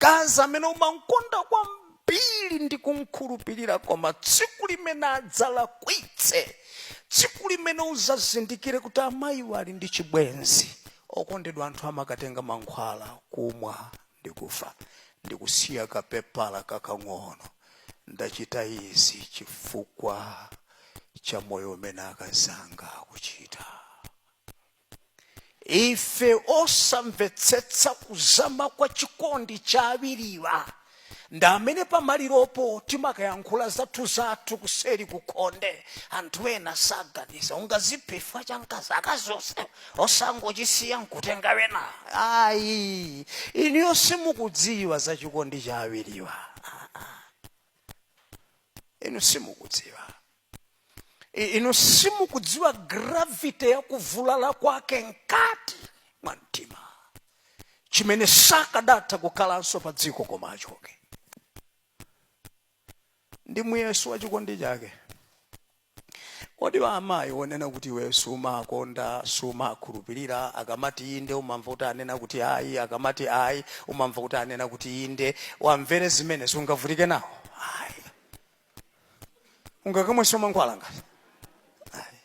mkazi amene umamkonda kwambiri ndi kumkhulupirira koma tsiku limene adzalakwitse tsiku limene uzazindikire kuti amayiwo ali ndi chibwenzi okondedwa anthu amakatenga mankhwala kumwa ndi kufa ndi kusiya kapepala kakang'ono ndachita izi chifukwa cha moyo umene akazanga akuchita ife osamvetsetsa kuzama kwa chikondi cha awiriwa ndi amene pamaliropo timakayankhula zathu zathu kuseri kukhonde anthu ena saganiza ungaziphe chifukwa cha mkazi akazi onse osangochisiya nkutenga wina ayi inuyo simukudziwa za chikondi cha awiriwa Ah, ah. inu simukudziwa I- inu simukudziwa gravity ya kuvulala kwake mkati mwa mtima chimene sakadatha kukhalanso pa dziko koma achoke ndi muyeso wa chikondi chake kodi wa amayi wonena kuti iwe sumakonda sumakhulupirira akamati inde umamva kuti anena kuti ayi akamati ayi umamva kuti anena kuti inde umvere zimene sungavutike nawo ayi ungakamwenso mankhwala ngati Ayi.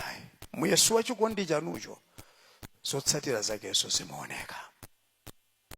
Ayi. muyeso wa chikondi chanucho zotsatira zakeso zimaoneka